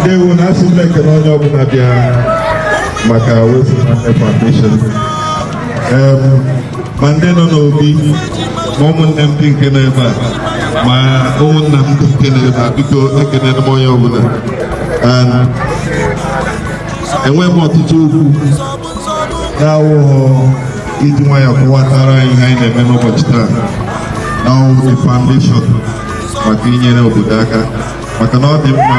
ndewo na asị m ekele onye ọbụla bịa maka West Nwanne Foundation ma ndị nọ n'obi ma ụmụnne m ndị nke nọ ebe a ma ụmụnna m ndị nke nọ ebe a biko ekele m onye ọbụla enweghị m ọtụtụ okwu na-awụghọ iji nwayọ kọwatara anyị ihe anyị na-eme n'ụbọchị taa na ọ wụ the foundation maka inyere obodo aka maka na ọ dị mma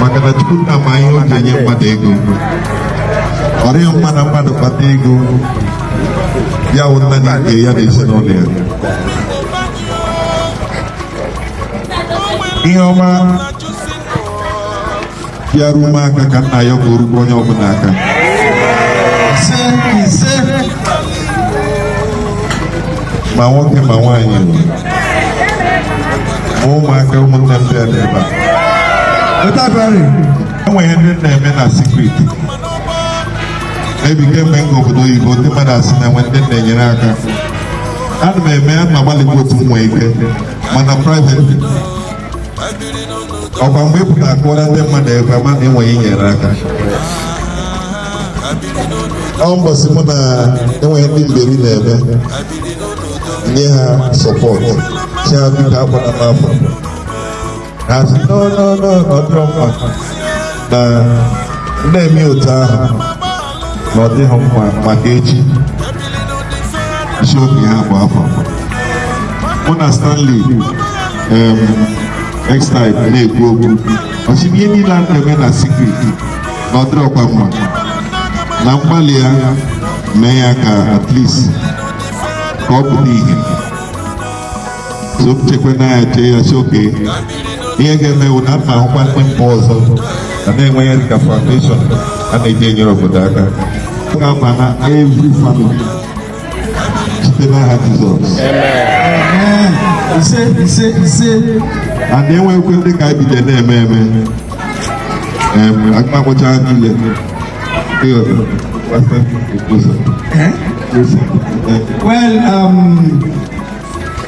maka na Chukwu nna ma ihe o ji enye mmadụ ego ọ dịrọ mma na mmadụ kpata ego ya wụ naanị ya na ezinụlọ ya ihe ọma ga-eru m aka ka m na-ayọ ka o rukwa onye ọbụla aka ise ise ma nwoke ma nwaanyị ma ụmụaka ụmụnne m bịara ebe a taa enwere ndị m na-eme na secret maybe kemgbe m ga obodo oyibo ndị mmadụ asị na enwe ndị na-enyere aka ana m eme ana m agbalịkwa otu m nwee ike mana private ọkwa mgbe ị pụtara kọọrọ ndị mmadụ a ga-ama na enwe ndị inyere aka ọ mbọsị mụ na enwere ndị mberi na-eme nye ha support sị ha biko akpọna m afa ha sị no no ọdịrọ mma na m na-eme otu ahụ na ọ dịghị mma maka echi m sị okay ihe a agba afọ mụ na Stanley em, next time na-ekwu okwu ọ sị ihe niile a na-eme na secret na ọ dịrọkwa mma na mgbalị ya mee ya ka at least ka ọ pụta ihe so m chekwa na ya chee ya sị okay ihe ga-eme wụ na m na-ahụkwa ebe ọzọ a na-enwe ya dịka foundation a na-eji enyere obodo aka ka ọ baa na every family site n'aha Jizọs ise ise ise a na-enwekwe ndị ka bido na-eme eme em aga m akọwacha niile o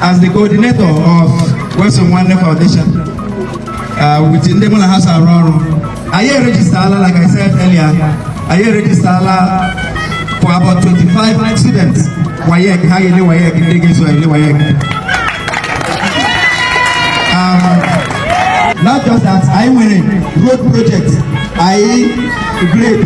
As the coordinator of West Nwanne Foundation, uh, with ndị mụ na ha so arụ ọrụ, anyị erejistala like I said earlier, anyị erejistala for about 25 students WAEC, ha ga-ele WAEC, ndị ga-eso ele WAEC. Um, not just that, anyị nwere road project, anyị grade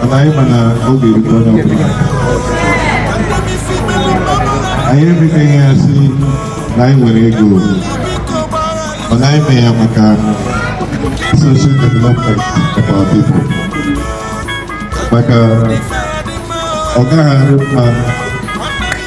mana anyị ma na ọ ga-erute onye ọbụla anyị emebeghị ya sị na anyị nwere ego mana anyị mee ya maka social development of our people maka ọ gaghị adị mma